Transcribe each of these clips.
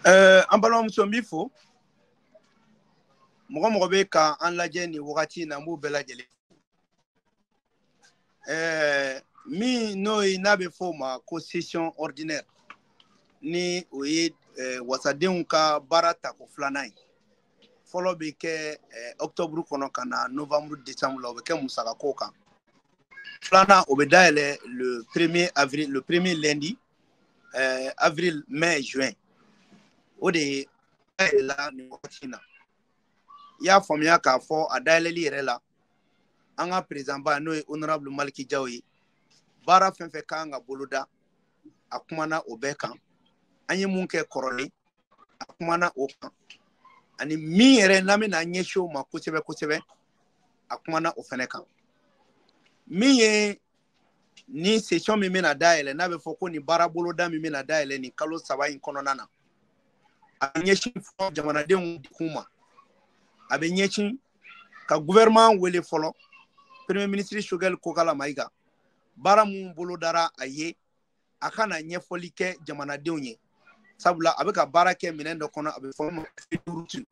Eh, an balimamuso n b'i fo mɔgɔ mɔgɔ bɛ ka an lajɛ nin wagati in na n b'u bɛɛ lajɛlen eh, min n'o ye n'a bɛ fɔ o ma ko session ordinaire ni o ye eh, wasadenw ka baara tako filanan ye fɔlɔ bɛ kɛ eh, octobre kɔnɔ ka na novembre décembre la o bɛ kɛ musakako kan filanan o bɛ dayɛlɛ le premier avril le premier lundi eh, avril mai juin o de ye dayɛlɛla nin wagati in na i y'a faamuya k'a fɔ a dayɛlɛli yɛrɛ la an ka président ba n'o ye honorable maliki jaw ye baara fɛn fɛn ka kan ka boloda a kumana o bɛɛ kan an ye mun kɛ kɔrɔlen a kumana o kan ani min yɛrɛ n'an bɛna an ɲɛsin o ma kosɛbɛ kosɛbɛ a kumana o fɛnɛ kan min ye ni session min bɛna dayɛlɛ n'a bɛ fɔ ko nin baara boloda min bɛna dayɛlɛ nin kalo saba in kɔnɔna na a bɛ ɲɛsin fɔlɔ jamanadenw kun ma a bɛ ɲɛsin ka gouvernement wele fɔlɔ premier ministre Choguel kokala mayiga baara minnu bolodara a ye a ka na ɲɛfɔli kɛ jamanadenw ye sabula a bɛ ka baara kɛ minɛn dɔ kɔnɔ a bɛ fɔ ma feuille de route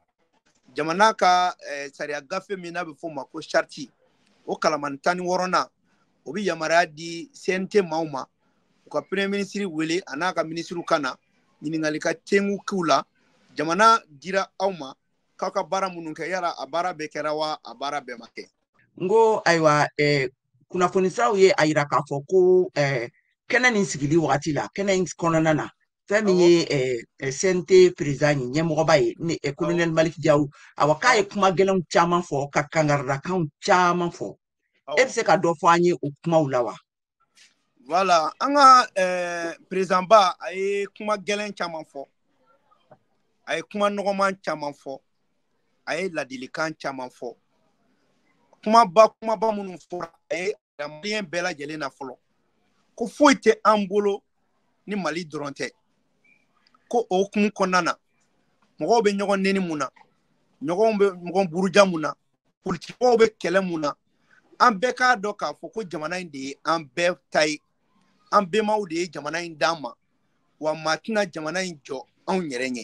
jamana ka eh, sariya gafe min n'a bɛ fɔ ma ko charte o kalamani tan ni wɔɔrɔnan o bɛ yamaruya di CNT maaw ma u ka premier ministre wele a n'a ka minisiriw ka na ɲininkali ka tengu k'u la jamana dira aw ma k'aw ka baara minnu kɛ yala a baara bɛɛ kɛra wa a baara bɛɛ ma kɛ n ko ayiwa eh, kunnafoni siraw ye a yira k'a fɔ ko kɛnɛ nin sigili wagati la kɛnɛ in kɔnɔna na fɛn min ye CNT président ye ɲɛmɔgɔba ye ni kolonɛli maliki jaw awa k'a ye kuma gɛlɛnw caman fɔ ka kangaridakanw caman fɔ e bɛ se ka dɔ fɔ an ye o kumaw la wa voilà an ka président ba a ye kuma gɛlɛn caman fɔ a ye kuma nɔgɔman caman fɔ a ye ladilikan caman fɔ kumaba kumaba minnu fɔra a y'a yira maliyɛn bɛɛ lajɛlen na fɔlɔ ko foyi tɛ an bolo ni mali dɔrɔn tɛ ko o hukumu kɔnɔna na mɔgɔw bɛ ɲɔgɔn neni mun na ɲɔgɔn bɛ ɲɔgɔn buruja mun na politikimɔgɔw bɛ kɛlɛ mun na an bɛɛ k'a dɔn k'a fɔ ko jamana in de ye an bɛɛ ta ye an bɛnbaw de ye jamana in d'an ma wa maa tɛna jamana in jɔ anw yɛrɛ ɲɛ